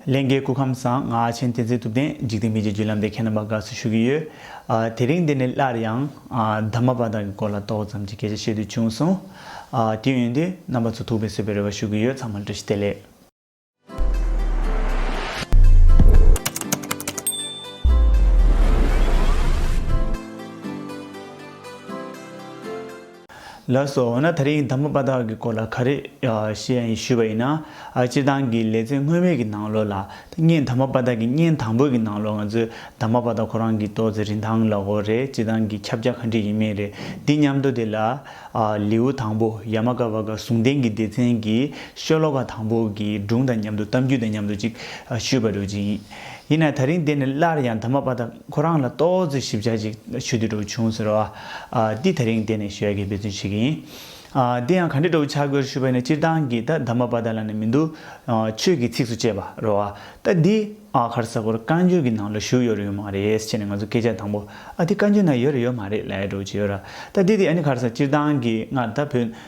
ལན། འགའི་སྐུ་ཁམས་བཟང་ང་ཨ་ཆེན་བསྟན་འཛིན་ཐུབ་བསྟན་འཇིག་རྟེན་མི་རྗེ་བརྒྱུད་ལམ་དེ་མཁས་རྣམ་པ་དགའ་བསུ་ཞུ་གི་ཡོད། དེ་རིང་འདི་ནས་སླར་ཡང། དར་མ་དཔའ་དར་གྱི་སྐོར་ལ་ཏོག་ཙམ་གྱི་སྐད་ཆ་བཤད་དུས་བྱུང་སོང། དུས་ཡུན་འདི་རྣམ་པ་ཚོ་ཐུག་པའི་གསོས་པའི་རེ་བ་ཞུ་གི་ཡོད་ཚང་མར་བཀྲ་ཤིས་བདེ་ལེགས། ལགས་སོ། འོ་ན་ད་རིང་དང་པོ་པ་དག་གི་སྐོར་ལ་ག་རེ་ཤེས་ཡ་ཡིན་ཞུས་པ་ཡིན་ན། སྤྱིར་བཏང་གི་ལེ་ཚན་སྔོན་མའི་གི་ནང་ལོ་ལ། བརྙན་དང་པོ་པ་དག་གི་བརྙན་དང་པོའི་གི་ནང་ལོ་ང་ཚོས་དང་པོ་པ་དག་ཁོ་རང་གི་ཏོག་ཙེ་རིན་ཐང་ལགས་འོ་རེད་སྤྱིར་བཏང་གི་ཁྱབ་རྒྱ་ག་འདྲི་ཡིན་མིན་རེད་འདི་སྙམ་དོ་དེ་ལ། ལེའུ་དང་པོ་ཡ་མ་ཀ་བ་ཀ་ཟུང་ལྡན་གི་སྡེ་ཚན་གི་ཤོ་ལོ་ཀ་དང་པོ་གི་སྒྲུང་དང་མཉམ་དུ་གཏམ་རྒྱུད་དང་མཉམ་དུ་ཅིག་ཞུས་པ་འགྲོ་ཅིག། ཡིན་ནའི་ད་རིང་དེ་ནི་སླར་ཡང་དར་མ་པ་དང་ཁོ་རང་ལ་ལྟོ་ཚོད་ཞིབ་ཆ་ཅིག་ཞུ་དུས་འགྲོ་བྱུང་ཟེར་བ་འདི་ད་རིང་དེ་ནི་ཞོལ་གྱི་འབད་བརྩོན་བྱེད་ཀྱི་ཡིན། དེ་ཡང་ག་འདྲའི་འགྲོ་བྱ་དགོས་ཞུས་པ་ནི་སྤྱིར་བཏང་གི་ད་དར་མ་པ་དག་ལ་ནི་མི་འདུག་ཆོས་ཀྱི་ཚིགས་སུ་བཅད་པ་རོ་ཨ་ད་འདི་ཨ་གར་ས་ཀོར་བཀའ་འགྱུར་གྱི་ནང་ལ་བཞུགས་ཡོད་རེད་ཡོད་མ་རེད་ཅེས་ནི་ང་ཚོ་སྐད་ཆ་དང་པོ་ཨ་འདི་བཀའ་འགྱུར་ན་ཡོད་རེད་ཡོད་མ་རེད་ལས་འགྲོ་བྱེད་ཡོད་ར་ད་འདི་འདི་ཨ་ནི་གར་ས་སྤྱིར་བཏང་གི་སྔར་ད་བོད་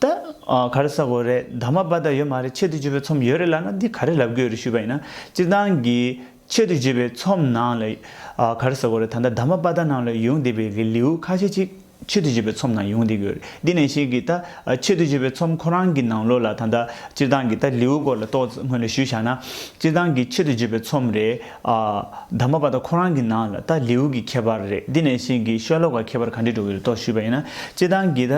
ད་ག་རེ་ཟ་དགོས་རེད་ད་མ་སྦ་ད་ཡོད་མ་རེད་ཆེད་དུ་བརྗེ་བའི་ཚོམས་ཡོད་རེད་ལབ་ན་འདི་ག་རེ་ལབ་དགོས་རེད་ཞུས་པ་ཡིན་ན་སྤྱིར་བཏང་གི་ཆེད་དུ་བརྗེ་བའི་ཚོམས་ནང་ལ་ག་རེ་ཟ་དགོས་རེད་ད་ལྟ་ད་མ་སྦ་ད་ནང་ལ་ཡོང་བསྡད་པའི་གི་ལེའུ་ཁ་ཤས་ཅིག་ཆེད་དུ་བརྗེ་བའི་ཚོམས་ནང་ཡོང་བསྡད་དགོས་རེད་འདི་ནས་བཤད་གི་ད་ཆེད་དུ་བརྗེ་བའི་ཚོམས་ཁོ་རང་གི་ནང་ལོ་ལ་ད་ལྟ་སྤྱིར་བཏང་གི་ད་ལེའུ་སྐོར་ལ་ཏོག་ཙམ་སྔོན་ལ་ཞུས་བཞག་ན་སྤྱིར་བཏང་གི་ཆེད་དུ་བརྗེ་བའི་ཚོམས་རེད། ཨ། དམ་པ་བ་ད་ཁོ་རང་གི་ནང་ལ་ད་ལེའུ་གི་ཁྱད་པར་རེད་འདི་ནས་གཞན་གྱི་ཤོ་ལོ་ཀ་ཁྱད་པར་ག་འདྲི་འགྲོ་གི་རེད་དོ་ཞུས་པ་ཡིན་ན་སྤྱི་བཏང་གི་ད་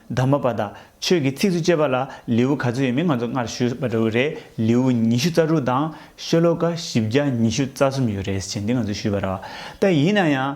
དམ་པ་བ་ད་ཆོས་ཀྱི་ཚིགས་སུ་བཅད་པ་ལ་ལེའུ་ག་ཚོད་ཡོད་མེད་ང་ཚོ་སྔར་ཞུས་པ་འདྲ་བོ་རེད་ལེའུ་ཉི་ཤུ་རྩ་དྲུག་དང་ཤོ་ལོ་ཀ་བཞི་བརྒྱ་ཉི་ཤུ་རྩ་གསུམ་ཡོད་རེད་ཟེར་བྱས་འདི་ང་ཚོ་ཞུས་པ་ར་བ་ད་ཡིན་ན་ཡང།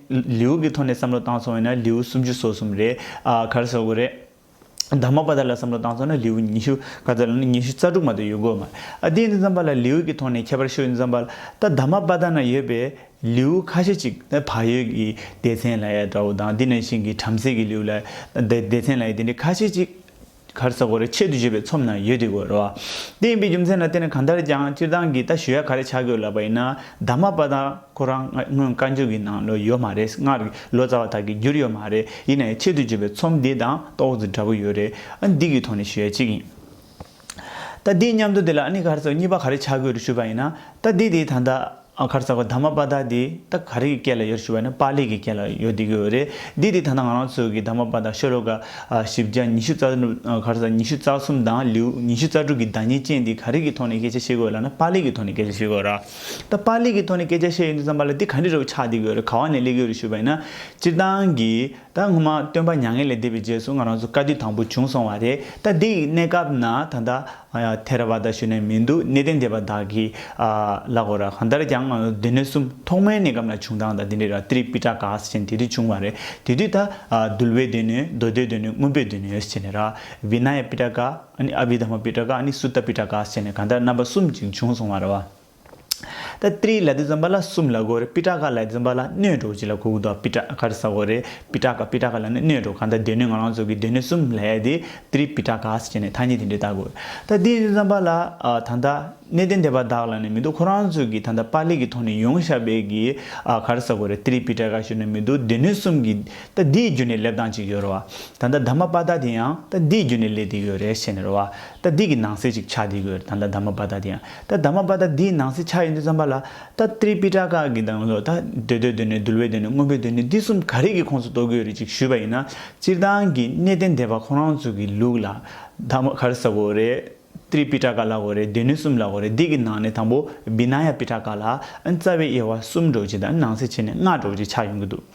ལེའུ་གི་ཐོག་ནས་བསམ་བློ་བཏང་སོང་བས་ན་ལེའུ་སུམ་ཅུ་སོ་གསུམ་རེད། ག་རེ་ཟེར་དགོས་རེད། དག་མ་པ་དག་ལ་བསམ་བློ་བཏང་སོང་ན་ལེའུ་ཉི་ཤུ་ག་ཚོད་ལ་ནི་ཉི་ཤུ་རྩ་དྲུག་མ་གཏོགས་ཡོད་དགོས་མ་རེད། དེ་ཡིན་ཙང་བ་ལ་ལེའུ་གི་ཐོག་ནས་ཁྱད་པར་ཤོད་ཡིན་ཙང་བ་ལ་ད་དག་མ་པ་དག་ན་ཡོད་པའི་ལེའུ་ཁ་ཤས་ཅིག་ད་བག་ཡོད་ཀྱི་སྡེ་ཚན་ལ་ཡ་འདྲ་བོ་དང་འདི་ནས་བཞིན་གྱི་བྲམ་ཟེ་གྱི་ལེའུ་ལ་ད་སྡེ་ཚན་ལ་ཡ་དེ་འདྲའི་ཁ་ཤས་ཅིག་གར་ས་གོ་རེ་ཆེད་དུ་བརྗོད་པའི་ཚོམས་རྣམས་ཡོད་དེ་དགོས་རོགས། དེ་ཡིན་པའི་རྒྱུ་མཚན་ལ་བརྟེན་ནས་གང་ལྟར་ཀྱང་སྤྱིར་བཏང་གི་ད་ཞུ་ཡག་ག་རེ་ཆགས་དགོས་ལབ་པ་ཡིན་ན་ད་མ་པ་ད་ཁོ་རང་སྔོན་བཀའ་འགྱུར་གྱི་ནང་ལོ་ཡོད་མ་རེད་སྔར་གྱི་ལོ་ཙཱ་བ་དག་གིས་བསྒྱུར་ཡོད་མ་རེད་ཡིན་ནའི་ཆེད་དུ་བརྗོད་པའི་ཚོམས་འདི་དང་ཏོག་ཙེ་འདྲ་པོ་ཡོད་རེད་ཨ་འདི་གི་ཐོག་ནས་ཞུ་ཡ་གཅིག་ཡིན། ད་དེའི་མཉམ་དུ་དེ་ལ་ཨ་ནི་གར་ས་གཉིས་པ་ག་རེ་ཆགས་དགོས་རེ་ཞུས་པ་ཡིན་ན་ད་དེ་དེའི་ད་ད། ཨ་མཁར་ཚ་གོ་ད་མ་པ་ད་འདི་ད་ག་རིགས་ཀྱི་སྐད་ལ་ཡོད་ཞུ་བ་ནི་པ་ལི་གི་སྐད་ལ་ཡོད་འདི་གི་འོད་རེད་འདི་འདི་ད་ནང་ང་རང་ཚོ་གི་ད་མ་པ་ད་ཤོ་ལོ་ཀ་བཞི་བརྒྱ་ཉི་ཤུ་རྩ་གར་ཟ་ཉི་ཤུ་རྩ་གསུམ་དང་ལིའུ་ཉི་ཤུ་རྩ་དྲུག་གི་བདག་ཉིད་ཅན་འདི་ག་རིགས་ཀྱི་ཐོག་ནས་སྐད་ཆ་བཤད་དགོས་ལ་ནི་པ་ལི་གི་ཐོག་ནས་སྐད་ཆ་བཤད་དགོས་ར་ད་པ་ལི་གི་ཐོག་ནས་སྐད་ཆ་བཤད་ཡོད་འདུག་བསམ་པ་ལ་འདི་ག་འདྲི་རོགས་ཆགས་འདི་གི་འོད་རེད་ག་བ་ནས་གླེགས་ཡོད་རེད་ཞུ་བ་ཡིན་ན་སྤྱིར་བཏང་གི་ད་སྔོན་མ་སྟོན་པ་མྱ་ངན་ལས་འདས་པའི་རྗེས་སུ་ང་རང་ཚོ་བཀའ་བསྡུས་དང་པོ་བྱུང་སོང་བ་རེད་ད་འདི་ཡི་གནས་སྐབས་ན་ད་ད་ཐེ་ར་བ་ད་ཞུ་ནས་མི་འདུག་གནས་བརྟན་སྡེ་པ་དག་གིས་ལག་འོ་ར་གང་ལྟར་ཀྱང་སྡེ་སྣོད་གསུམ་ཐོག་མའི་གནས་སྐབས་ན་བྱུང་སྟངས་དང་དེ་འདྲའི་ར་ཏིརི་པི་ཏྲ་ག་ཟེར་ཅན་དེ་དུས་བྱུང་བ་རེད་དེ་དུས་ད་དུལ་བའི་སྡེ་སྣོད་མདོ་སྡེའི་སྡེ་སྣོད་སྔོན་པོའི་སྡེ་སྣོད་ཟེར་ནས་ར་བི་ན་ཡ་པི་ཏྲ་ག་ཨ་ནི་ཨ་བི་དྷ་མ་པི་ཏྲ་ག་ཨ་ནི་སུ་ཏ་པི་ཏྲ་ག་ཟེར་ནས་གང་ལྟར་རྣམ་པ་གསུམ་ཅིག་བྱུང་སོང་བ་ར་བ། ད་ཏྲིའི་ལད་དུ་འཛོམ་པ་ལ་སུམ་ལ་གོ་རེ་པི་ཏྲ་ཀ་ལད་འཛོམ་པ་ལ་སྣོད་དྲུག་ཅི་ལ་གུག་དོ་པི་ཏྲ་ཀར་ས་གོ་རེ་པི་ཏྲ་ཀ་པི་ཏྲ་ཀ་ལ་ནི་སྣོད་དྲུག་གང་ད་སྡོད་གནས་ང་རང་ཚུགས་ཀྱི་སྡོད་གནས་སུམ་ལྷའི་དེ་ཏྲི་པི་ཏྲ་ཀས་བྱས་ནས་ཐ་སྙད་དེ་འདྲས་བཏགས་གོ། ད་ཏིའི་འཛོམ་པ་ལ་ད་ད་གནས་བརྟན་དེ་པ་དག་ལ་ནི་མི་འདུག་ཁོ་རང་ཚུགས་ཀྱི་ད་ད་པ་ལི་གི་ཐོག་ནས་ཡོང་ཤ་བེ་གི་གར་ས་གོ་རེ་ཏྲི་པི་ཏྲ་ཀ་ཞུ་ནི་མི་འདུག་སྡོད་གནས་གསུམ་གྱི་ད་འདིའི་རྒྱུ་ནས་ལེབ་དང་ཅིག་ཡོད་རོ། ད་ད་ད་མ་པ་ད་དེ་ཡང་ད་འདིའི་རྒྱུ་ནས་ལེ་དེ་ཡོད་རེ་བྱས་ནས་རོ། ད་འདི་གི་ནང་གསེས་ཅིག་ཆགས་འདི་གོ་ད་ད་མ་པ་ད་འདི་ཡང་ད་ད་མ་པ་ད་འདིའི་ནང་གསེས་ཆགས་ཡོད་འདུག་བསམ་པ་ལ་ད་ཏྲི་པི་ཏྲ་ཀ་གི་དང་ལོ་ད་འདོད་འདོད་འདོད་ནས་འདུལ་བའི་འདོད་ནས་དངོས་པོའི་འདོད་ནས་འདི་གསུམ་ག་རིགས་ཀྱི་ཁོངས་སུ་གཏོགས་ཀྱི་ཡོད་རེད་ཅིག་ཞུས་པ་ཡིན་ན་སྤྱིར་བཏང་གི་གནད་དོན་འདས་པ་ཁོང་རང་ཚོ་གི་ལུགས་ལ་ད་མ་ག་རི་ས་གོ་རེད་ཏྲི་པི་ཏྲ་ཀ་ལ་གོ་རེད་འདོད་ནུས་གསུམ་ལ་གོ་རེད་འདི་གི་ནང་ནས་དང་པོ་བི་ན་ཡ་པི་ཏྲ་ཀ་ལ་རྩ་བའི་དབྱེ་བ་གསུམ་སྒྲོག་ཅིག་དང་ནང་གསེས་ཕྱེ་ནས་ལྔ་སྒྲོག་ཅིག་ཆགས་ཡོང་གི་འདུག།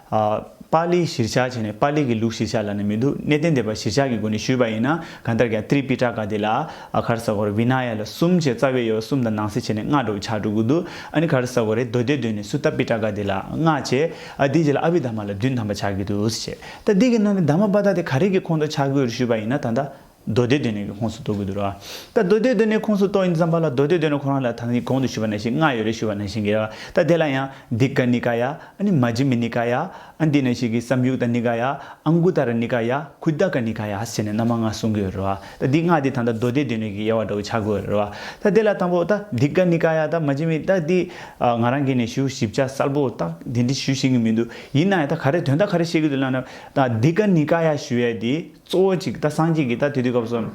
པཱ་ལིའི་གཞིར་བཞག་བྱས་ནས་པཱ་ལིའི་གི་ལུགས་གཞིར་བཞག་ལ་ནི་མི་འདུག་གནས་བརྟན་བདེ་པ་གཞིར་བཞག་གི་སྒོ་ནས་ཞུས་པ་ཡིན་ན་གང་ལྟར་ཀྱང་ཏྲི་པི་ཏྲ་ཀ་དེ་ལ་ཨ་གྷར་ས་གོ་རེ་བི་ན་ཡ་ལ་གསུམ་བྱས་རྩ་བའི་དབྱེ་བ་གསུམ་དང་ནང་གསེས་བྱས་ནས་སྔགས་བསྒྲུབ་བྱ་དྲུག་འདུག་ཨ་ནི་གྷ་རི་ས་གོ་རེ་རྡོ་རྗེ་བདུན་ནས་སུ་ཏཱ་པི་ཏྲ་ཀ་དེ་ལ་སྔགས་བྱས་ཨ་དེའི་རྗེས་ལ་ཨ་བྷི་དྷརྨ་ལ་བདུན་ཐམ་པ་བྱ་དགོས་དུས་སུ་བྱས་ད་དེ་གི་ནང་ནས་དྷརྨ་པ་དྷ་དེ་ག་རེ་གི་ཁོང་དུ་ཆགས་དགོས་རུ་ཞུས་པ་ཡིན་ན་ད་ལྟ་མདོ་སྡེ་སྡོད་གནས་ཀྱི་ཁོངས་སུ་གཏོགས་དགོས་འདུག་རོ། ད་མདོ་སྡེ་སྡོད་གནས་ཁོངས་སུ་གཏོགས་ཡིན་བསམ་པ་ལ་མདོ་སྡེ་སྡོད་གནས་ཁོ་རང་ལ་ད་ནི་གོང་དུ་ཞུས་པ་ན་ཞིག་མངའ་ཡོད་རེ་ཞུས་པ་ན་ཞིག་གི་རེ་བ་ད་དེ་ལ་ཡང་འདི་ཀ་ནི་ཀ་ཡ་ཨ་ནི་མ་ཇི་མི་ནི་ཀ་ཡ་ཨ་འདི་ན་ཞིག་གི་བསམ་ཡུག་ད་ནི་ཀ་ཡ་ཨ་མགུ་ད་ར་ནི་ཀ་ཡ་ཁུ་ད་ཀ་ནི་ཀ་ཡ་ཟེར་ནས་མནའ་མ་མངའ་གསུང་གི་ཡོད་རེ་བ་ད་འདི་མངའ་འདི་ད་ད་མདོ་སྡེ་སྡོད་གནས་ཀྱི་དབྱེ་བ་འདྲ་བོ་ཆགས་དགོས་ཡོད་རེ་བ་ད་དེ་ལ་དང་པོ་ད་འདི་ཀ་ནི་ཀ་ཡ་ད་མ་ཇི་མི་ད་འདི་ང་རང་གིས་ནས་ཞུ་ཞིབ་ཆ་གསལ་པོ་ད་དེ་འདྲི་ཞུ་ཤེས་ཀྱི་མི་འདུག་ཡིན་ན་ཡང་ད་ག་རེ་དོན་ད་ག་རེ་བཤད་ཀྱི་འདུག་ལ་ན་ད་འདི་ཀ་ནི་ཀ་ཡ་ཞུ་ཡས་འདི། གཙོ་བོ་གཅིག་ད་སངས་རྒྱས་ཀྱིས་ད་དུས་དུས་སྐབས་སུ།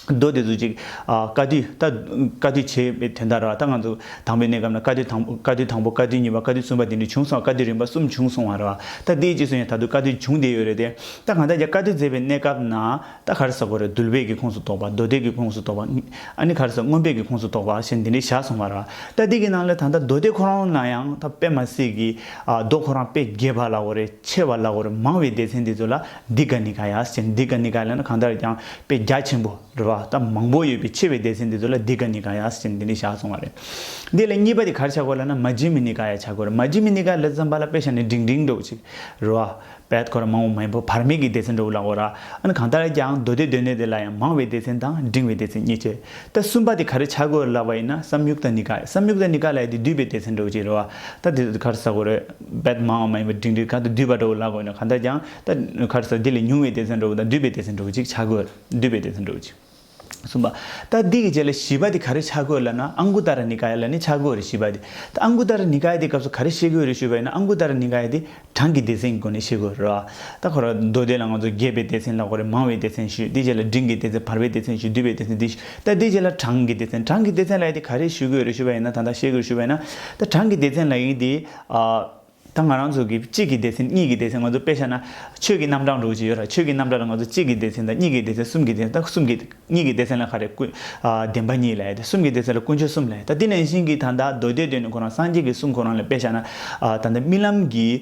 མདོ་སྡེ་གཟུགས་གཅིག། བཀའ་དུས་ད། བཀའ་དུས་བྱས་པའི་དོན་ལྟར་རོ། ད་ང་ཚོ་དང་པོའི་གནས་སྐབས་ན་བཀའ་དུས་དང་པོ་བཀའ་དུས་དང་པོ་བཀའ་དུས་གཉིས་པ་བཀའ་དུས་གསུམ་པ་དེ་འདྲ་བྱུང་སོང་བ་བཀའ་དུས་རིམ་པ་གསུམ་བྱུང་སོང་བ་རོ། ད་དེའི་རྗེས་སུ་ཡང་ད་དུ་བཀའ་དུས་བྱུང་བསྡད་ཡོད་རེད་དེ། ད་གང་ལྟར་རྒྱ་བཀའ་དུས་མཛད་པའི་གནས་སྐབས་ན། ད་ག་རེ་ཟ་གོ་རེ་འདུལ་བད་ཀྱི་ཁོངས་སུ་གཏོགས་པ་མདོ་སྡེ་ཀྱི་ཁོངས་སུ་གཏོགས་པ། ཨ་ནི་ག་རེ་ཟ་སྔོན་བད་ཀྱི་ཁོངས་སུ་གཏོགས་པ་ཞེས་འདི་འདྲས་བཞག་སོང་བ་རོ། ད་དེ་གི་ནང་ལས་ད་ལྟ་མདོ་སྡེ་ཁོ་རང་ན་ཡང་ད་དཔེ་མ་སྲིད་ཀྱི། མདོ་ཁོ་རང་དཔེ་རྒྱས་པ་ལ་གོ་རེ་ཆེ་བ་ལ་གོ་རེ་མང་བའི་སྡེ་ཚན་འདི་ཚོ་ལ། འདི་ག་ནི་ག་ཡ་ཅན་འདི་ག་ནི་ག་ལ་ནི་གང་ལྟར་ཀྱང་དཔེ་རྒྱ་ཆེན་པོ་རེ་བ་ད་མང་པོ་ཡོད་པའི་ཆེ་བའི་སྡེ་ཚན་འདི་ཚོ་ལ་འདི་ག་ནི་ག་ཡ་ཅན་འདི་འདྲའི་བཞག་སོང་བ་རེད། འདི་ལ་གཉིས་པ་དེ་གར་བྱ་དགོས་ལ་ན་མ་ཇི་མི་ནི་ག་ཡ་བྱ་དགོས་རེད་མ་ཇི་མི་ནི་ག་ལ་ཙམ་པ་ལ་དཔེ་བྱ་ནི་འབྲིང་འབྲིང་འགྲོ་ཅིག་རེ་བ་བད་ཁོ་ར་མང་བོ་མ་ཡིན་པོ་བར་མེད་ཀྱི་སྡེ་ཚན་འགྲོ་ལ་འོ་ར་ཨ་ནི་གང་ལྟར་ཀྱང་མདོ་སྡེ་སྡོད་གནས་དེ་ལ་ཡང་མང་བའི་སྡེ་ཚན་དང་འབྲིང་བའི་སྡེ་ཚན་གཉིས་ཆེ་ད་གསུམ་པ་དེ་ག་རེ་བྱ་དགོས་ལ་བ་ཡིན་ན་བསམ་ཡུག་ད་ནི་ག་བསམ་ཡུག་ད་ནི་ག་ལ་ཡ་དེ་འདུས་པའི་སྡེ་ཚན་འགྲོ་ཅིག་རེ་བ་ད་དེ་ཚོ་དེ་གར་ཟ་དགོས་རེད། བདག་མ་འོངས་མ་ཡིན་པའི་དྲིང་རིག་ག་དུ་འདུས་པ་འགྲོ་བའི་ལ་དགོས་ན་ག་འདྲ་ཀྱང་ད་གར་སོ་འདི་ལས་ཉུང་བའི་སྡེ་ཚན་འགྲོ་བ་དང་འདུས་པའི་སྡེ་ཚན་འགྲོ་བ་ཅིག་བྱ་དགོས་ལ་འདུས་པའི་སྡེ་ཚན་འགྲོ་བ་ཅིག། གསུམ་པ། ད་འདི་གི་རྗེས་ལ་བཞི་པ་དེ་ག་རེ་བྱ་དགོས་ལ་ན་ཨངྐུཏར་ནི་ཀཱཡ་ལ་ནི་བྱ་དགོས་རེ་ཞུས་པ་དེ། ད་ཨངྐུཏར་ནི་ཀཱཡ་དེའི་སྐབས་སུ་ག་རེ་ཤེས་དགོས་རེ་ཞུས་པ་ཡིན་ན་ཨངྐུཏར་ནི་ཀཱཡ་དེ་གྲངས་ཀྱི་སྡེ་ཚན་གྱི་སྒོ་ནས་ཤེས་དགོས་རེད། ད་གར་མདོ་སྡེ་ལ་ང་ཚོ་བརྒྱད་པའི་སྡེ་ཚན་ལ་གོ་རེ་མང་བའི་སྡེ་ཚན་ཞུས་དེའི་རྗེས་ལ་འབྲིང་གི་སྡེ་ཚན་བར་པའི་སྡེ་ཚན་ཞུས་འདུས་པའི་སྡེ་ཚན་དེ་ཞུས། ད་དེ་རྗེས་ལ་གྲངས་ཀྱི་སྡེ་ཚན་གྲངས་ཀྱི་སྡེ་ཚན་ལ་ཡིན་དེ་ག་རེ་ཞུ་དགོས་རེ་ཞུ་བ་ཡིན་ན་ད་ད་ཤེས་དགོས་ཞུ་བ་ཡིན་ན། ད་གྲངས་ཀྱི་སྡེ་ཚན་ལ་ཡིན་དེ། ད་ང་རང་ཚོ་གི་གཅིག་གི་སྡེ་ཚན་གཉིས་ཀྱི་སྡེ་ཚན་ང་ཚོ་དཔེ་ཤ་ན་ཆོས་ཀྱི་རྣམ་གྲངས་འགྲོ་གི་ཡོད་ར་ཆོས་ཀྱི་རྣམ་གྲངས་ལ་ང་ཚོ་གཅིག་གི་སྡེ་ཚན་དང་གཉིས་ཀྱི་སྡེ་ཚན་གསུམ་གྱི་སྡེ་ཚན་ད་གསུམ་གྱི་གཉིས་ཀྱི་སྡེ་ཚན་ལ་ག་རེ་ཀུན། བདེན་པ་གཉིས་ལ་ཡིན་དེ་གསུམ་གྱི་སྡེ་ཚན་ལ་ཀུན་སྤྱོད་གསུམ་ལ་ཡིན་ད་དེ་ནས་བཞིན་གྱི་ད་ད་མདོ་སྡེ་སྡོད་ནས་ཁོ་རང་སངས་རྒྱས་ཀྱི་གསུང་ཁོ་རང་ལ་དཔེ་ཤ་ན། ད་ད་རྨི་ལམ་གྱི།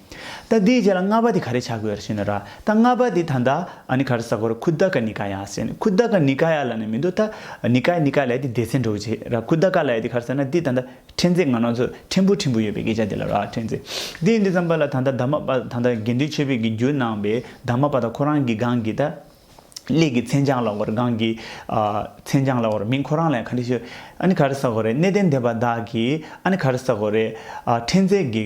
ད་དེའི་རྗེས་ལ་ལྔ་པ་དེ་ག་རེ་བྱ་དགོས་ཞེ་ན་ར་ད་ལྔ་པ་དེ་ད་ནྡ་ཨ་ནི་ག་རེ་ཟ་དགོས་ར་ཁུ་དཱ་ཀ་ནི་ཀ་ཡཱ་ཟེ་ནི་ཁུ་དཱ་ཀ་ནི་ཀ་ཡཱ་ལ་ནི་མི་འདུག་ད་ནི་ཀ་ཡཱ་ནི་ཀ་ཡཱ་ལ་ཡ་དེ་སྡེ་ཚན་འགྲོ་གི་རྗེས་ར་ཁུ་དཱ་ཀ་ལ་ཡ་དེ་ག་རེ་ཟེར་ན་དེ་ད་ནྡ་ཕྲན་ཚེགས་ང་རང་ཚོ་ཕྲན་བུ་ཕྲན་བུ་ཡོད་པའི་སྐད་ཆ་དེ་ལ་ར་ཕྲན་ཚེགས་དེ་ཡིན་དུས་ཙམ་པ་ལ་ད་ནྡ་དཱ་མ་པ་ད་ནྡ་དགེ་འདུན་ཆོས་འཕེལ་གྱི་རྒྱུད་ནང་པའི་དཱ་མ་པ་དང་ཁོ་རང་གི་སྒང་གི་ད་ལས་ཀྱི་མཚན་བྱང་ལ་བར་སྒང་གི་མཚན་བྱང་ལ་བར་མིང་ཁོ་རང་ལ་ཡང་ག་རེ་ཞུ་ཨ་ནི་ག་རེ་ཟ་དགོས་རེད་གནས་བརྟན་སྡེ་པ་བདག་གིས་ཨ་ནི་ག་རེ་ཟ་དགོས་རེད་ཨ་ཕྲན་ཚེགས་ཀྱི་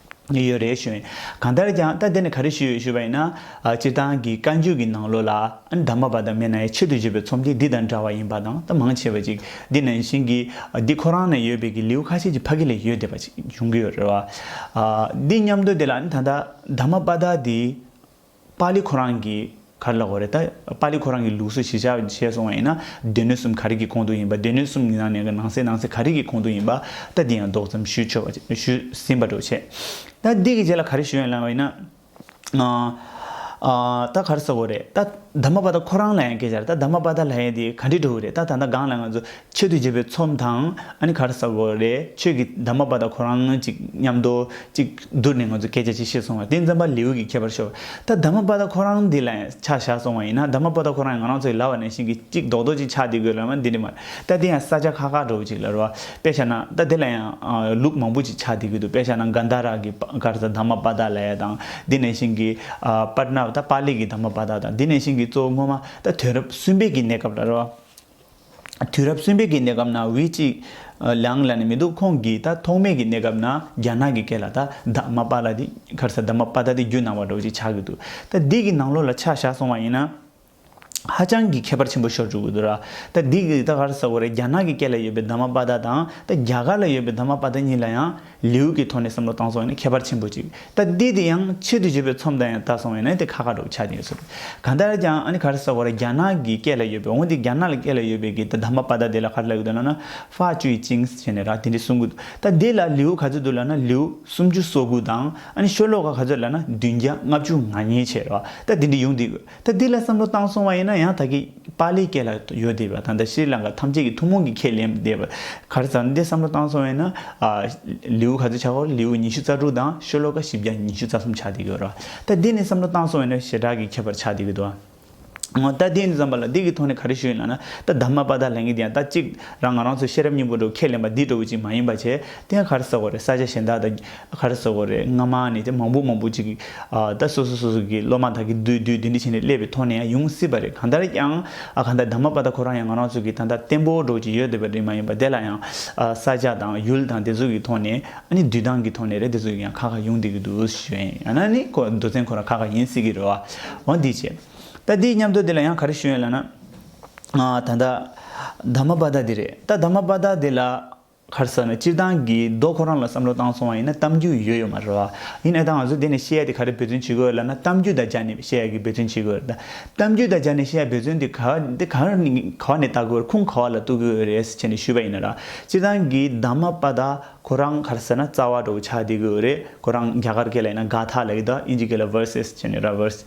ནི་ཡོད་རེད་ཞུས། གང་ལྟར་ཀྱང་ད་དེ་ནི་ག་རེ་ཞུས་ཡོད་ཞུས་པ་ཡིན་ན། སྤྱིར་བཏང་གི་བཀའ་འགྱུར་གྱི་ནང་ལོ་ལ། འདབ་མ་བ་དང་མེ་ནའི་ཆེད་དུ་བཞེས་པའི་ཚོམས་ཀྱི་འདི་དང་འདྲ་བ་ཡིན་པ་དང་ད་མང་ཆེ་བ་ཅིག་འདི་ནང་བཞིན་གྱི། འདི་ཁོ་རང་ནས་ཡོད་པའི་གི་ལེའུ་ཁ་ཤས་ཀྱི་ཕ་གི་ལས་ཡོད་བསྡད་པ་ཅིག་འབྱུང་གི་ཡོད་རེད་བ། འདི་སྙམ་དུ་དེ་ལ་ད་འདབ་མ་བ་དག་འདི། པཱ་ལི་ཁོ་རང་གི་ག་རེ་ལ་གོ་རེ་ད། པཱ་ལི་ཁོ་རང་གི་ལུགས་སུ་ཞི་ཆགས་བྱས་སོང་བ་ཡིན་ན། སྡེ་སྣོད་གསུམ་ག་རེ་གི་གོང་དུ་ཡིན་པ་སྡེ་སྣོད་གསུམ་གི་ནང་ནས་ནང་གསེས་ནང་གསེས་ག་རེ་གི་གོང་དུ་ཡིན་པ་ད་འདི་ཡང་ལྡོག་ཙམ་ཞུས་ཆོག་པ་ཞུས་ཟིན་པ་འགྲོ་བྱས། ད་འདི་གི་རྗེས་ལ་ག་རེ་ཞུ་ཡང་ལན་བ་ཡིན་ན། ད་ག་རེ་ཟེར་བ་རེད་ད། དཱ་མ་པཱ་དཱ་ཁོ་རང་ལ་ཡང་སྐད་ཆ་རེད་ད་དཱ་མ་པཱ་དཱ་ལ་ཡང་འདི་ག་འདྲི་འགྲོ་གི་རེད་ད་ད་ནང་གང་ལ་ང་ཚོ། ཆོས་དུས་བྱེད་པའི་ཚོམས་དང་ཨ་ནི་ག་ར་ས་གོ་རེ་ཆོས་ཀྱི་འདབ་མ་པ་དང་ཁོ་རང་ཅིག་མཉམ་དུ་གཅིག་བསྡུར་ནས་ང་ཚོས་སྐད་ཆ་ཅིག་བཤད་སོང་བ་དེ་འཛམ་བ་ལེའུ་གི་ཁྱད་པར་ཤོར་བ་ད་འདབ་མ་པ་དང་ཁོ་རང་འདི་ལ་ཆ་བཞག་སོང་བ་ཡིན་ན་འདབ་མ་པ་དང་ཁོ་རང་ང་རང་ཚོ་ཡི་ལ་བ་ནས་བཞིན་གྱི་གཅིག་རྡོག་རྡོག་ཅིག་ཆག་འདི་དགོས་ལབ་ན་འདི་ནི་མ་རེད་ད་འདི་ཡང་ས་ཆ་ཁག་ཁག་འདྲ་བོ་ཅིག་ལ་རོ་བ་དཔེ་ཤ་ན་ད་འདི་ལ་ཡང་ལུགས་མང་པོ་ཅིག་ཆག་འདི་དགོས་འདུག་དཔེ་ཤ་ན་གྷན་དྷ་ར་གི་ག་ར་ས་འདབ་མ་པ་དག་ལ་ཡ་དང་འདི་ནས་བཞིན་གྱི་པར་ནབ་ད་པར་ལི་གི་འདབ་མ་པ་དག་དང་འདི་ནས་བཞིན་གྱི་གཙོ་བོ་སྔོན་མ་ད་དོན་རབས་གསུམ་པའི་གི་གནས་སྐབས་ལ་རོ་བ། དུས་རབས་གསུམ་པའི་གི་གནས་སྐབས་ན་ཝི་གཅིག་ལང་ལ་ནི་མི་འདུག་ཁོང་གིས་ད་ཐོག་མའི་གི་གནས་སྐབས་ན་རྒྱ་ནག་གི་སྐད་ལ་ད་ད་མ་པ་ལ་དེ་ཁར་ས་ད་མ་པ་ད་དེ་རྒྱུད་ནང་བ་འགྲོ་ཅིག་ཆགས་གི་འདུག་ད་འདི་གི་ནང་ལོགས་ལ་ཆགས་བཞག་སོང་བ་ཡིན་ན་ཧ་ཅང་གི་ཁྱད་པར་ཆེན་པོ་ཤོར་འཇུག་གི་འདུག་ར་ད་འདི་གི་ད་གར་ས་གོ་རེ་རྒྱ་ནག་གི་སྐད་ལ་ཡོད་པའི་ད་མ་པ་ད་དང་ད་རྒྱ་གར་ལ་ཡོད་པའི་ད་མ་པ་ད་གཉིས་ལ་ཡང། ལེའུ་ཀའི་ཐོག་ནས་བསམ་བློ་བཏང་སོང་བས་ན་ཁྱད་པར་ཆེན་པོ་གཅིག་ད་འདི་དེ་ཡང་ཆེད་དུ་བརྗོད་པའི་ཚོམས་དང་ཡང་བལྟ་སོང་བས་ན་དེ་ཁ་ཁ་སྒྲོག་ཆགས་ཀྱི་ཡོད་ཟེར། གང་ལྟར་ཀྱང་ཨ་ནི་ག་རེ་ཟེར་བ་ར་རྒྱ་ནག་གི་སྐད་ལ་ཡོད་པའི་འོན་ཏེ་རྒྱ་ནག་ལ་སྐད་ལ་ཡོད་པའི་གི་ད་དམ་པ་པ་ད་དེ་ལ་ག་རེ་ལ་ཡོད་དོ་ན་ན་ཧྥ་ཅུའི་ཅིང་ཟེར་བྱས་ནས་ར་དེ་འདྲའི་གསུང་གི་འདུག་ད་འདི་ལ་ལེའུ་ག་ཚོད་འདུག་ལ་ན་ལེའུ་སུམ་ཅུ་སོ་དགུ་དང་ཨ་ནི་ཤོ་ལོ་ཀ་ག་ཚོད་ལ་ན་བདུན་བརྒྱ་ལྔ་བཅུ་ང་གཉིས་བྱས་ར་ད་འདི་འདྲའི་ཡོང་དུས། ད་འདི་ལ་བསམ་བློ་བཏང་སོང་བ་ཡིན་ན་ཡང་དག་གིས་པཱ་ལིའི་སྐད་ལ་ཡོད་བསྡད་པ་དང་ད་ཤྲཱི་ལངྐ་ཐམས་ཅད་ཀྱི་ཐུན་མོང་གི་ཁས་ལེན་བསྡད་པ་གར་ཟ་འདི་བསམ་བློ་བཏང་སོང་བས་ན། ལེའུ་ག་ཚོད་ཆགས་སྐོར་ལེའུ་ཉི་ཤུ་རྩ་དྲུག་དང་ཤོ་ལོ་ཀ་བཞི་བརྒྱ་ཉི་ཤུ་རྩ་གསུམ་ཆགས་བསྡད་ཀྱི་རོ། ད་འདི་ནས་བསམ་བློ་བཏང་སོང་བས་ན་ཞེ་དྲག་གི་ཁྱད་པར་ཆགས་བསྡད་ཀྱི་འདུག་ཨང། ད་འདི་ནས་བརྩམས་པ་ལ་འདི་གི་ཐོག་ནས་ག་རེ་ཞུ་ཡིན་ལགས་ན་ད་དར་མ་པཱ་དར་ལེན་གྱི་འདི་ཡང་ད་གཅིག་རང་ང་རང་ཚོ་ཤེས་རབ་སྙིང་པོ་འགྲོ་ཁས་ལེན་པ་འདི་འགྲོ་བོ་ཅིག་མ་ཡིན་པ་ཆད་དེ་ཡང་གར་ཟ་སྐོར་རེ་ས་ཆ་གཞན་དག་དང། ཁ་ར་ཟོ་གོ་རེད་སྔ་མ་ནི་དེ་མང་པོ་མང་པོ་ཅིག་གིས་ད་སོ་སོ་སོ་སོ་གིས་སློབ་མ་དག་གིས་བསྡུས་བསྡུས་འདི་འདྲི་བྱས་ནས་སླེབས་པའི་ཐོག་ནས་ཡང་ཡོང་སྲིད་པ་རེད་གང་ལྟར་ཡང་གང་ལྟར་ད་མ་པ་ད་ཁོ་རང་ཡང་ང་རང་ཚོ་གི་ད་ལྟ་བརྟན་པོ་འགྲོ་བཞིན་ཡོད་འདོད་པ་རེད་མ་ཡིན་པ་དེ་ལ་ཡང་ས་ཆ་དང་ཡུལ་དང་དེ་ཚོ་གི་ཐོག་ནས་ཨ་ནི་འདུས་སྟངས་གི་ཐོག་ནས་རེད་དེ་ཚོ་ཡང་ཁ་ཁ་ཡོང་སྡད་ཀྱི་འདུག་ཞུས་ཡིན་ཡང་ན་ནི་མདོ་ཚན་ཁོ་རང་ཁ་ཁ་ཡིན་སྲིད་ཀྱི་རེད་བ་འོང་འདི་བྱས་ད་འདི་མཉམ་དུ་དེ་ལ་ཡང་ག་རེ་ཞུས་ཡོད་ལ་ན་ད་ད་མ་པ་ད་འདི་རེད་ད་ད་མ་པ་ད་འདི་ལ། ཁར་ས་ནས་སྤྱིར་བཏང་གི་མདོ་ཁོ་རང་ལ་བསམ་བློ་བཏང་སོང་བ་ཡིན་ན་གཏམ་རྒྱུད་ཡོད་ཡོད་མ་རེད་བ། ཡིན་ཨེ་ད་ང་ཚོས་དེ་ནས་བཤད་ཡ་དེ་ག་རེ་འབད་བརྩོན་བྱེད་དགོས་ལབ་ན་གཏམ་རྒྱུད་དང་སྦྱར་ནས་བཤད་ཡ་གི་འབད་བརྩོན་བྱེད་དགོས་རེད་ད། གཏམ་རྒྱུད་དང་སྦྱར་ནས་བཤད་ཡ་འབད་བརྩོན་དེ་ག་དེ་ག་ནས་ག་བ་ནས་བལྟ་དགོས་རེད་ཁུངས་ག་བ་ལ་གཏུགས་དགོས་རེད་ཟེར་བྱས་ནས་ཞུས་པ་ཡིན་ན་ར། སྤྱིར་བཏང་གི་དྭངས་མ་པ་དག་ཁོ་རང་གར་ས་ན་རྩ་བ་འགྲོ་བོ་ཆགས་བསྡད་དགོས་རེད་ཁོ་རང་རྒྱ་གར་སྐད་ལ་ཡིན་ན་ག་དྷ་ལ་ཡིད་ད་ཨིན་ཇི་སྐད་ལ verse ཟེར་བྱས་ནས་ར verse།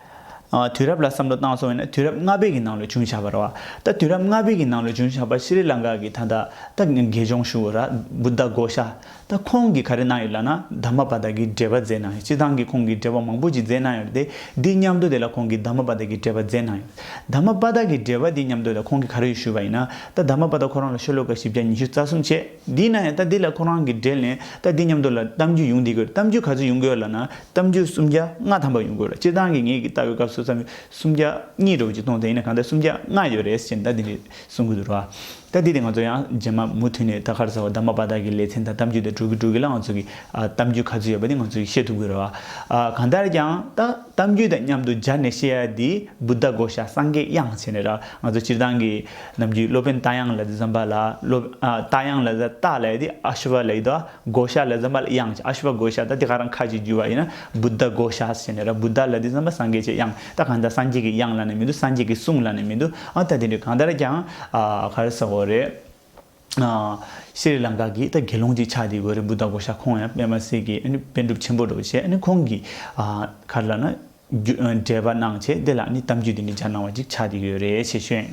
དུས་རབས་ལ་བསམ་བློ་བཏང་སོང་བས་ན་དུས་རབས་ལྔ་པའི་གི་ནང་ལོ་ཆུང་ཆགས་པར་བ། ད་དུས་རབས་ལྔ་པའི་གི་ནང་ལོ་ཆུང་ཆགས་པར་ཤི་རི་ལང་ཀ་གི་ད་ད་ད་གི་དགེ་སྦྱོང་ཤུ་བོ་ར་བུ་ད་གོ་ཤ་ད་ཁོང་གི་ག་རེ་གནང་ཡོད་ལ་ན་ད་མ་པ་ད་གི་འགྲེལ་པ་མཛད་གནང་ཡོད་སྤྱི་ཐང་གི་ཁོང་གི་འགྲེལ་པ་མང་པོ་ཅིག་མཛད་གནང་ཡོད་དེ་འདི་མཉམ་དུ་དེ་ལ་ཁོང་གི་ད་མ་པ་ད་གི་འགྲེལ་པ་མཛད་གནང་ཡོད་ད་མ་པ་ད་གི་འགྲེལ་པ་འདི་མཉམ་དུ་ད་ཁོང་གི་ག་རེ་ཡོད་ཞུས་པ་ཡིན་ན་ད་ད་མ་པ་ད་ཁོ་རང་ལ་ཤོ་ལོ་ཀ་བཞི་བརྒྱ་ཉི་ཤུ་རྩ་གསུམ་བྱས་འདི་ན་ཡང་ད་འདི་ལ་ཁོ་རང་གི་འགྲེལ་ནས་ད་འདི་མཉམ་དུ་ལ་གཏམ་རྒྱུད་ཡོང་འདི་དགོས་རེད་གཏམ་རྒྱུད་ག་ཚོད་ཡོང་གི་ཡོད་ལ་ན་གཏམ་རྒྱུད་སུམ་བརྒྱ་ལྔ་ཐམ་པ་ཡོང་དགོས་ལ་སྤྱིར་བཏང་གི་ངེད་ཀྱི་ལྟ་བའི་སྐབས་སུ་རྩ་མི་སུམ་བརྒྱ་གཉིས་དྲུག་ཅིག་གཏོང་དེ་ཡིན་ན་གང་ལྟར་སུམ་བརྒྱ་ལྔ་ཡོད་རེད་ཅེས་ཟླ་འདི་ནས་གསུང་གི་འདུག་རོ། ལྟ་དེ་དེ་ང་ཚོ་ཡང་རྗེས་མ་མུ་མཐུད་ནས་ད་ག་རེ་ཟེར་བ་དར་མ་པ་དག་གི་ལེ་ཚན་དང་གཏམ་རྒྱུད་དེ་སྒྲུག་གི་སྒྲུག་གི་ལ་ང་ཚོ་གི་གཏམ་རྒྱུད་ག་ཚོད་ཡོད་པ་དེ་ང་ཚོས་ཤེས་ཐུབ་གི་རེད་བ། གང་ལྟར་ཀྱང་ད་གཏམ་རྒྱུད་དང་མཉམ་དུ་སྦྱར་ནས་བཤད་ཡ་དེ Buddha བསྒོ་བྱ་སངས་རྒྱས་དབྱངས་བྱས་ནས་ར་ང་ཚོ་སྤྱིར་བཏང་གི་ནམ་རྒྱུན་སློབ་དཔོན་རྟ་དབྱངས་ལ་དེ་ཛམྦྷ་ལ་སློབ་རྟ་དབྱངས་ལ་རྟ་ལ་ཡི་དེ Ashwar ལ་ཡི་དོ། བགོ་བཤའ་ལས་ཟ་མ་ལ་དབྱངས་ཀྱི་ཨ་ཞུ་བ་བགོ་བཤའ་དང་དེ་ག་རང་ཁ་ཅིག་རྒྱུ་བ་ཡིན་ན་བུདྡྷ་བགོ་བཤའ་ཟེར་ནས་ར་བུདྡྷ་ལ་དེ་ཟ་མ་སངས་རྒྱས་ཀྱི་དབྱངས་ད་གང་ལྟར་སངས་རྒྱས་ཀྱི་དབྱངས་ལ་ནི་མི་འདུག་སངས་རྒྱས་ཀྱི་གསུང་ལ་ནི་མི་འདུག་ཨང་ད་དེ་འདྲས་གང་ལྟར་ཀྱང་ག་རེ་ཟ་གོ་རེད། སི་རི་ལངྐ་གི་ད་དགེ་སློང་གཅིག་ཆགས་འདི་གོ་རེད་བུདྡྷ་བགོ་བཤའ་ཁོང་ཡང་པདྨ་སེ་གི་ཨ་ནི་དཔེ་སྒྲུབ་ཆེན་པོ་འགྲོ་བྱེད་ཨ་ནི་ཁོང་གི་ག་རེ་ལ་ན། འགྲེལ་པ་གནང་བྱས་དེ་ལ་ནི་གཏམ་རྒྱུད་འདི་འདྲའི་སྦྱར་གནང་བ་ཅིག་ཆགས་ཀྱི་ཡོད་རེད་ཞེས་ཤོད།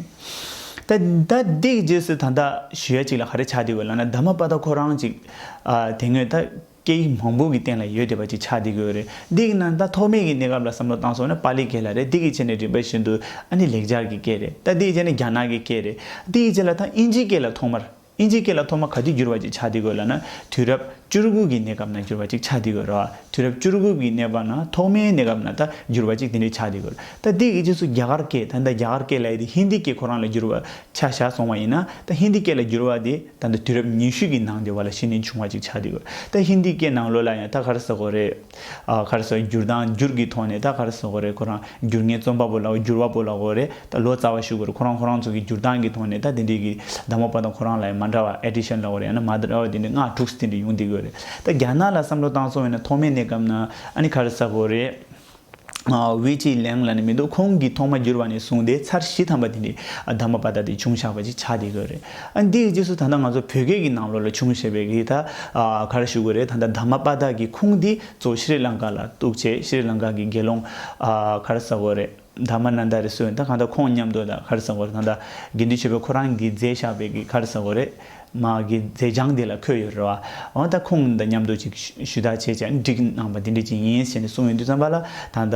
ད་ད་འདི་གི་རྗེས་སུ་ད་ལྟ་ཞུ་ཡ་ཅིག་ལ་ག་རེ་ཆགས་བསྡད་དགོས་ལབ་ན་ད་མ་པ་ད་ཁོ་རང་ཅིག་དེ་སྔོན་ད་སྐད་ཡིག་མང་པོ་གི་སྟེང་ལ་ཡོད་བསྡད་པ་ཅིག་ཆགས་བསྡད་དགོས་རེད་འདི་གི་ནང་ད་ཐོག་མེད་གི་གནས་སྐབས་ལ་བསམ་བློ་བཏང་སོང་ན་པ་ལི་གེ་ལ་རེད་འདི་གི་ཆེ་ནས་རིམ་པ་བཞིན་དུ་ཨ་ནི་ལེགས་སྦྱར་གྱི་སྐད་རེད་ད་འདི་གི་ཆེ་ནས་རྒྱ་ནག་གི་སྐད་རེད་འདི་གི་ཆེ་ལ་ད་དབྱིན་ཇིའི་སྐད་ལ་ཐོག་མར། ཨིན་ཇིའི་སྐད་ལ་ཐོག་མ་ག་དུས་བསྒྱུར་བ་ཅིག་ཆགས་འདི་དགོས་ལ་ན་དུས་རབས་བཅུ་རུ་དགུ་གི་གནས་སྐབས་ན་བསྒྱུར་བ་ཅིག་ཆགས་འདི་དགོས་རོ། དུས་རབས་བཅུ་རུ་དགུ་གི་གནས་པ་ན་ཐོག་མའི་གནས་སྐབས་ན་ད་བསྒྱུར་བ་ཅིག་དེ་འདྲའི་ཆགས་འདི་དགོས་རོ། ད་འདི་གི་རྗེས་སུ་རྒྱ་གར་སྐད་ད་ད་རྒྱ་གར་སྐད་ལ་ཡི་དེ་ཧིན་དི་སྐད་ཁོ་རང་ལ་བསྒྱུར་བ་ཆ་བཞག་སོང་བ་ཡིན་ན་ད་ཧིན་དི་སྐད་ལ་བསྒྱུར་བ་དེ་ད་ད་དུས་རབས་ཉི་ཤུ་གི་ནང་དེ་བ་ལ་ཕྱི་ནས་བྱུང་བ་ཅིག་ཆགས་འདི་དགོས་རོ། ད་ཧིན་དི་སྐད་ནང་ལོ་ལ་ཡང་ཐ་གར་ཟེར་གོ་རེད། ག་རེ་སོགས་བསྒྱུར་དང་བསྒྱུར་གྱི་ཐོག་ནས་ད་ག་རེ་སོགས་གོ་རེ་ཁོ་རང་བསྒྱུར་ངའི་རྩོམ་པ་པོ་ལ་བསྒྱུར་བ་པོ་ལ་གོ་རེ་ད་ལོ་ཙཱ་བ་ཞུ་གོ་རེ་ཁོ་རང་ཁོ་རང་ཚོ་གི་བསྒྱུར་སྟངས་ཀྱི་ཐོག་ནས་ད་དེ་འདྲས་ཀྱི་བདག་མོ་པ་དང་ཁོ་རང་ལ་ཡང་མ་འདྲ་བ Addition ལ་གོ་རེ་ཡང་ན་མ་འདྲ་བ་དེ་འདྲས་སྔགས་དྲུག་སྟེ་འདྲས་ཡོང་སྡེ་གི་ཡོད་རེད་ད་རྒྱ་ནག་ལ་བསམ་བློ་བཏང་སོང་བས་ན་ཐོག་མའི་གནས་སྐབས་ན་ཨ་ནི་ག་རེ་ས་གོ་རེ། བའི་ཅིའི་གླེང་ལ་ནི་མི་འདུག་ཁོང་གིས་ཐོག་མ་བསྒྱུར་བ་ནས་བཟུང་སྟེ་ཚར་བཞི་ཐམ་པ་དེ་འདྲའི་དམ་པ་པ་དག་དེ་བྱུང་བཞག་པ་ཅིག་ཆགས་བསྡད་དགོས་རེད། འདིའི་རྗེས་སུ་ད་ལྟ་ང་ཚོ་བོད་སྐད་ཀྱི་ནང་ལོགས་ལ་བྱུང་བཞེད་པའི་གི་ད་གར་བཞུགས་དགོས་རེད་ད་ལྟ་དམ་པ་པ་དག་གིས་ཁུངས་འདི་ཚོ་ཤི་རི་ལང་ཀ་ལ་གཏུགས་ཆེད་ཤི་རི་ལང་ཀ་གི་དགེ་སློང་གར་ཟ་བོ་རེད་དམ་པ་ན་ད་རེ་སོས་ད་གང་ད་ཁོང་མཉམ་དུ་ད་གར་ཟ་བོ་རེད་ད་ད་དགེ་འདུན་ཆོས་འཕེལ་ཁོ་རང་གིས་མཛད་བཞག་པའི་གི་གར་ཟ་བོ་རེད། མ་གི་མཛད་བྱང་འདི་ལ་འཁོད་ཡོད་རེད་བ། འོན་ཏ་ཁོང་འདི་མཉམ་དུ་ཅིག་ཞུ་ད་བྱས་ཅེས་འགྲིག་གནང་བ་འདི་འདྲི་ཅིག་ཡིན་ཞེས་འདི་གསུང་ཡོད་དུས་བརྩམས་པ་ལ་ད་ལྟ་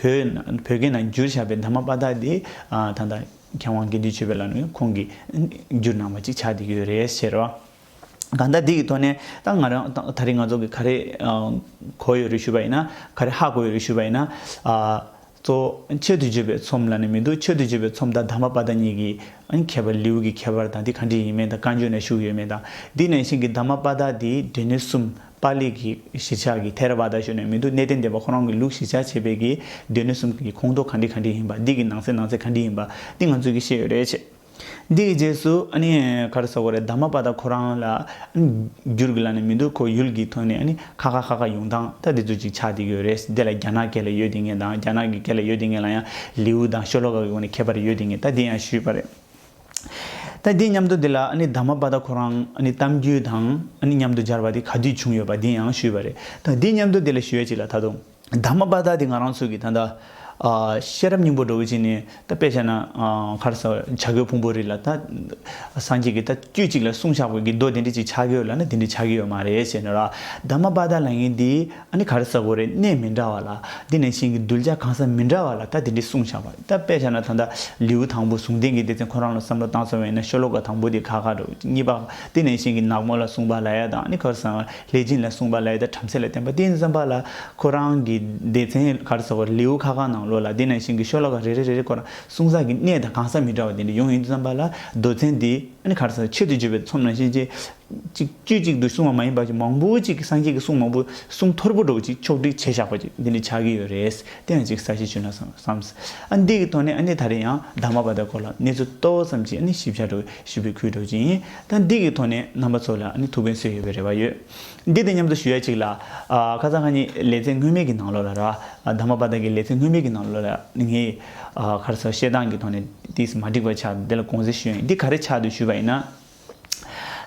བོད་བོད་སྐད་ནང་བསྒྱུར་བྱས་པའི་འདབ་མ་དཔའ་དག་འདི་ད་ལྟ་མཁས་དབང་དགེ་འདུན་ཆོས་འཕེལ་ལགས་ནས་ཁོང་གིས་བསྒྱུར་གནང་བ་ཅིག་ཆགས་འདི་ཡོད་རེད་ཟེར་བ། གང་ལྟར་འདི་གི་ཐོག་ནས་ད་ང་རང་ད་རེས་ང་ཚོ་གི་ག་རེ་གོ་ཡོད་རེད་ཞུས་པ་ཡིན་ན་ག་རེ་ཧ་གོ་ཡོད་རེད་ཞུས་པ་ཡིན་ན། གཙོ། ཆེད་དུ་བརྗོད་པའི་ཚོམས་ལ་ནི་མི་འདུག་ཆེད་དུ་བརྗོད་པའི་ཚོམས་དང་དམ་པ་དཔའ་དང་གཉིས་ཀྱི་ཁྱད་པར་ལེའུ་གི་ཁྱད་པར་དང་དེ་གང་དྲིས་ཡིན་མིན་དང་བཀའ་འགྱུར་ན་བཞུགས་ཡོད་མེད་དང་འདི་ནས་གཞན་གྱི་དམ་པ་དཔའ་དག་དེའི་སྡེ་སྣོད་གསུམ་པཱ་ལི་གི་གཞིར་ཆགས་ཀྱི་ཐེ་ར་བཱ་དཱ་ཞུ་ནས་མི་འདུག་གནས་བརྟན་སྡེ་པ་ཁོ་རང་གི་ལུགས་གཞིར་ཆགས་བྱས་པའི་གྱི་སྡེ་སྣོད་གསུམ་གྱི་ཁོངས་གཏོགས་གང་དྲིས་གང་དྲིས་ཡིན་པ་འདི་གི་ནང་གསེས་ནང་གསེས་གང་དྲིས་ཡིན་པ་འདི་ང་ཚོས་ཀྱིས་ཤེས་ཡོད་རེད། འདིའི་རྗེས་སུ་ག་རེ་ཟོ་གི་རེད་ད་མ་པ་ད་ཁོ་རང་ལ་འགྱུར་གི་ལ་ནི་མི་འདུག་ཁོ་ཡུལ་གྱི་ཐོག་ནས་ཁ་ཁ་ཁ་ཁ་ཡོང་སྟངས་ད་འདི་ཚོ་ཅིག་ཆགས་འདི་ཡོད་རེད་འདི་ལ་རྒྱ་ནག་སྐད་ལ་ཡོད་འདི་ངེས་དང་རྒྱ་ནག་གི་སྐད་ལ་ཡོད་འདི་ངེས་ལ་ཡང་ལིའུ་དང་ཤོ་ལོ་ཀ་གི་སྒོ་ནས་ཁྱད་པར་ཡོད་འདི་ངེས་ད་འདི་ཡང་ཞུས་པ་རེད་ད་འདི་མཉམ་དུ་འདི་ལ་ད་མ་པ་ད་ཁོ་རང་གཏམ་རྒྱུད་དང་མཉམ་དུ་སྦྱར་བ་འདི་ག་དུས་བྱུང་ཡོད་པ་འདི་ཡང་ཞུས་པ་རེད་ད་འདི་མཉམ་དུ་འདི་ལ་ཞུས་ཡ་ཅིག་ལ་ད་དུང། དག་མ་པ་དག་དེ་ང་རང་ཚོ་གི་ད་ལྟ་ཤེས་རབ་སྙིང་པོ་སྒྲོག་ཅིག་ནི་ད་དཔེ་བྱས་ན་ཁར་སོ་བྱ་རྒོད་ཕུང་པོ་རིགས་ལ་ད་སངས་རྒྱས་ཀྱི་ད་དཀྱུས་གཅིག་ལ་གསུང་བྱ་དགོས་ཀྱི་མདོ་དེ་འདྲི་ཅིག་ཆགས་ཀྱི་ཡོད་ལ་ནི་དེ་འདྲི་ཆགས་ཀྱི་ཡོད་མ་རེད་ཞེས་ནོ་ར་དག་མ་པ་དག་ལ་ངས་འདི་ཨ་ནི་ཁར་སོ་བོ་རེད་གནས་མི་འདྲ་བ་ལ་འདི་ནས་ཤིང་གི་རྡུལ་ལྕགས་གང་ས་མི་འདྲ་བ་ལ་ད་དེ་འདྲི་གསུང་བྱ་བ་ད་དཔེ་བྱས་ན་ད་ད་ལེའུ་དང་པོ་ཟུང་ལྡན་གྱི་སྡེ་ཚན་ཁོ་རང་ལ་བསམ་བློ་བཏང་སོང་བས་ན་ཤོ་ལོ་ཀ་དང་པོ་དེ་ཁ་ཁ་སྒྲོག་གཉིས་པ་འདི་ནས་ཤིང་གི་ནག་མོ་ལ་གསུང་པ་ལ་ཡ་དང་ཨ་ནི་ཁར་སོ་ལེ་སྦྱིན་ལ་གསུངས་པ་ལ་ཡི་དྭགས་བྲམ་ཟེ་ལ་བསྟན་པ་དེ་བསམ་པ་ལ་ཁོ་རང་གི་སྡེ་ཚན་གར་ཟེར་བར་ལེའུ་ཁ་ཁ་ནང་ལོགས་ལ་དེ་ནང་བཞིན་གྱི་ཤོ་ལོ་ཀ་རེ་རེ་རེ་རེ་བསྐོར་གསུང་ཟག་གི་གནས་དང་གང་ཟག་མི་འདྲ་བ་དེ་འདྲ་ཡོང་ཡོང་དུ་བསམ་པ་ལ་རྡོ་ཚན་དེ་ནི་གར་ཟེར་ཆེད་དུ་བརྗོད་པའི་ཚོམས་ནང་བཞིན་ཅི་ཅིག་བཅུ་གཅིག་ཏུ་གསུངས་བ་མ་ཡིན་པ་ཅིག་མང་པོ་ཅིག་གིས་སངས་རྒྱས་ཀྱི་གསུང་མང་པོ་གསུང་ཐོར་བུ་སྒྲོག་ཅིག་ཕྱོགས་བསྒྲིགས་བྱས་བཞག་པ་ཅིག་འདི་ནི་ཆགས་ཀྱི་ཡོད་རེད་དེ་ཡང་ཅིག་ས་གཞི་བྱུང་ན་བསམས། ཨ་འདི་གི་ཐོག་ནས་ཨ་ནི་ད་རེས་ཡང་བདག་མ་བ་དག་སྐོར་ལ་གནས་ཚུལ་རྟོགས་བསམ་གྱིས་ཨ་ནི་ཞིབ་ཆ་སྒྲོག་ཞིབ་པའི་ཁུལ་སྒྲོག་ཅིང། ད་འདི་གི་ཐོག་ནས་རྣམ་པ་ཚོ་ལ་ནི་ཐུགས་ཕན་གསོས་ཡོད་པའི་རེ་བ་ཡོད། འདི་དང་མཉམ་དུ་ཞུ་ཡ་གཅིག་ལ། ཁ་ཚ་ཧ་ནི་ལེ་ཚན་སྔོན་མའི་གི་ནང་ལོ་ལ་ར་ད་མ་པ་ད་གི་ལེ་ཚན་སྔོན་མའི་གི་ནང་ལོ་ལ་ནི་ངའི་ཁར་ཚོ་བཤད་སྟངས་གི་ཐོག་ནས་དེས་མ་འགྲིག་པ་ཆགས་འདི་ལ་དགོངས་སེལ་ཞུ་ཡང་འདི་ག་རེ་ཆགས་འདུག་ཞུས་པ་ཡིན་ན།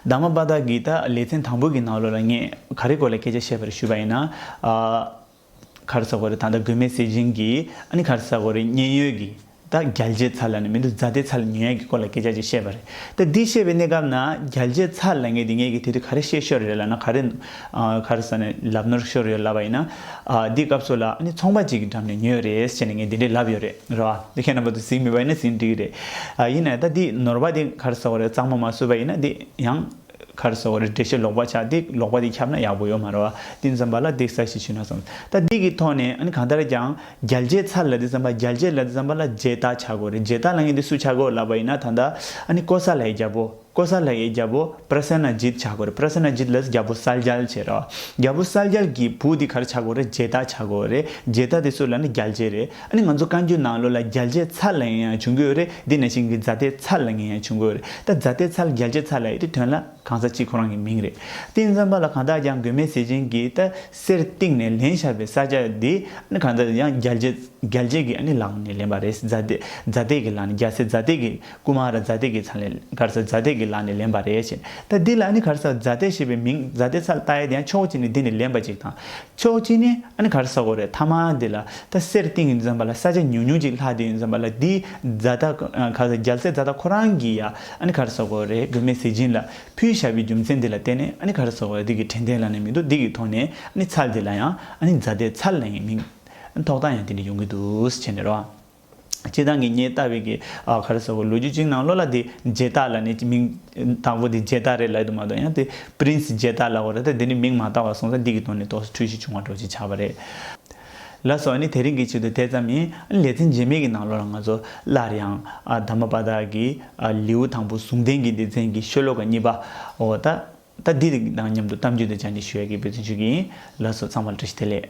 ད་མ་པ་ད་གི་ད་ལེ་ཚན་དང་པོའི་གི་ནང་ལོ་ལ་ངས་ག་རེ་སྐོར་ལ་སྐད་ཆ་བཤད་པ་རེ་ཞུས་པ་ཡིན་ན། གར་ས་གོ་རེ་ད་ལྟ་དགོས་མེད་ཟེར་བཞིན་གྱི་ཨ་ནི་གར་ས་གོ་རེ་མཉན་ཡོད་ཀྱི་ད་རྒྱལ་གཅེས་ཚར་ལ་ནི་མི་འདུག་རྫ་སྟེ་ཚར་ལ་ཉེ་ཡག་གི་སྐོར་ལ་སྐད་ཆ་ཅིག་བཤད་པ་རེད་ད་འདི་བཤད་པའི་གནས་སྐབས་ན་རྒྱལ་གཅེས་ཚར་ལ་ངེས་ཏེ་ངེས་ཀྱི་དེ་དུས་ག་རེ་བཤད་ཤོར་རེད་ལ་ན་ག་རེ་གར་ས་ནས་ལབ་ནོར་ཤོར་ཡོད་ལབ་པ་ཡིན་ན་འདི་སྐབས་སུ་ལ་ཨ་ནི་ཚོང་པ་ཅིག་གི་འགྲམ་ནས་ཉོས་རེད་བྱས་ནས་ངས་འདི་འདྲས་ལབ་ཡོད་རེད་རེད་བ་འདི་ཁྱེད་རྣམ་པ་ཚོ་ཟིན་མི་པ་ཡིན་ན་ཟིན་འགྲིག་གི་རེད་ཡིན་ན་ད་འདི་ནོར་བ་འདི་གར་ས་གོ་རེ་གཙང་མ་མ་བཟོས་པ་ཡིན་ན་འདི་ཡང། མཁར་སོགས་རི་བྲེ་ཞིག་ལོག་པར་བྱ་སྟེ་ལོག་པ་དེ་ཁྱབ་ན་ཡག་པོ་ཡོད་མ་རེད་བ། དེ་འཛོམས་པ་ལ་སྡིག་ས་ཞིག་བྱུས་ན་བཟང། ད་སྡིག་གི་ཐོག་ནས་ཨ་ནི་གང་ལྟར་ཀྱང་རྒྱལ་གཅེས་ཚར་ལ་དེ་འཛོམས་པ་རྒྱལ་གཅེས་ལ་དེ་འཛོམས་པ་ལ་རྗེས་བརྟག་བྱ་དགོས་རེད་རྗེས་བརྟག་ལ་ངས་འདི་སུས་བྱ་དགོས་ལབ་པ་ཡིན་ན་ད་ལྟ་ཨ་ནི་ཀོ་ས་ལའི་རྒྱལ་པོ་ཀོ་ས་ལའི་རྒྱལ་པོ Prasanna Jit བྱ་དགོས་རེད Prasanna Jit ལས་རྒྱལ་པོ་གསལ་རྒྱལ་བྱས་རེད་བ། རྒྱལ་པོ་གསལ་རྒྱལ་གྱི་བུ་དེ་གར་བྱ་དགོས་རེད་རྗེས་བརྟག་བྱ་དགོས་རེད་རྗེས་བརྟག་དེ་སུ་ལ་ནི་རྒྱལ་གཅེས་རེད། ཨ་ནི་ང་ཚོ་བཀའ་འགྱུར་ནང་ལོ་ལ་རྒྱལ་གཅེས་ཚར་ལ་ཡིན་ཡང་བྱུང་གི་ཡོད་རེད་འདི་ནས་ཤིང་གི་རྫ་རྟའི་ཚར་ལ་ངན་ཡང་བྱུང་གི་ཡོད་རེད་ད་རྫ་རྟའི་ཚར་རྒྱལ་གཅེས་ཚར་ལ་ཡོད་དེ་དོན་ལ་གང་ཟག་གཅིག་ཁོ་རང་གི་མིང་རེད་ཏིང་འཛོམས་པ་ལ་གང་དག་ཀྱང་དགོས་མེད་ཟེར་མཁན་གྱི་ད་གསེར་གཏིང་ནས་ལེན་ཤར་བའི་ས་ཆ་འདི་ཨ་ནི་གང་ཟག་ཡང་རྒྱལ་གཅེས་རྒྱལ་གཅེས་ཀྱི་ཨ་ནི་ལག་ནས་ལེན་པ་རེད་རྫ་རྟའི་རྒྱལ་གཅེས་ཀྱི་ལག་ནས་རྒྱལ་སའི་རྫ་རྟའི་ཀུ་མ་ར་ཛཱ་ཏི་གི་ཚ་ལེན་གྷར་སཱ་ཛཱ་ཏི་གི་ལག་ནས་ལེན་པ་རེད་ཅེ་ད་འདི་ལ་ནི་གྷར་སཱ་ཛཱ་ཏི་ཞེས་པའི་མིང་ཛཱ་ཏི་ཚ་ལྟ་ཡས་དེ་ཡང་ཕྱོགས་གཅིག་ནས་འདི་ནས་ལེན་པ་ཅིག་དང་ཕྱོགས་གཅིག་ནས་ཨ་ནི་གྷར་སཱ་གོ་རེད་ཐ་མ་འདི་ལ་ད་གསེར་ཏིང་ངེ་འཛོམས་པ་ལ་ས་ཆ་ཉུང་ཉུང་ཅིག་ལྷག་འདི་འཛོམས་པ་ལ་འདི་ཛཱ་ཏི་གྷར་སཱ་རྒྱལ་སྲས་ཛཱ་ཏི་ཁོ་རང་གིས་ཡ་ཨ་ནི་གྷར་སཱ་གོ་རེད་དགོས་མེད་ཟེར་གྱིན་ལ་ཕུའི་ཞབས་པའི་རྒྱུ་མཚན་འདི་ལ་བརྟེན་ནས་ཨ་ནི་གྷར་སཱ་གོ་ར་འདི་གི་དྲན་རྟེན་ལག་ནས་མི་འདུག་འདི་གི་ཐོག་ནས་ཨ་ནི་ཚ་འདི་ལ་ཡང་ཨ་ནི་ཛཱ་ཏི་ཚ་ལེན་ཡིན་མིན་ཐོག་ཐག་ཡང་དེ་འདྲ་ཡོང་གི་འདུག་ཅེ་ནས་རོ། སྤྱི་དང་གི་སྙེ་རྟ་བི་གི་ཨ་གྷར་སོགས་ལོ་རྒྱུས་གཅིག་ནང་ལོ་ལ་དེ་རྗེ་རྟ་ལ་ནི་མིང་དང་པོ་དེ་རྗེ་རྟ་རེད་ལད་དུ་མ་གཏོགས་ཡང་དེ Prince རྗེ་རྟ་ལ་བོ་རེད་ད་དེ་ནི་མིང་མ་བཏགས་བ་སོང་ས་འདི་གི་དོན་ནི་ཏོག་སི་འཁྲུལ་ཞིག་བྱུང་བ་འགྲོ་ཅི་ཆགས་པ་རེད། ལ་སོགས་ནི་དེ་རིང་གི་ཆེད་དུ་དེ་ཙམ་ཡིན་ཨ་ལེ་ཚན་རྗེས་མེད་གི་ནང་ལོ་ལ་ང་ཚོ་སླར་ཡང་དར་མ་པ་དག་གི་ལེའུ་དང་པོ་ཟུང་ལྡན་གྱི་སྡེ་ཚན་གྱི་ཤོ་ལོ་ཀ་གཉིས་པ་འོ་ད་ད་འདི་དང་མཉམ་དུ་གཏམ་རྒྱུད་དུ་སྦྱར་འདྲི་ཞུ་ཡ་གི་འབོད་བརྩོན་ཞུ་གི་ཡིན་ལ་སོགས་ཚང་མར་བཀྲ་ཤིས་བདེ་ལེགས།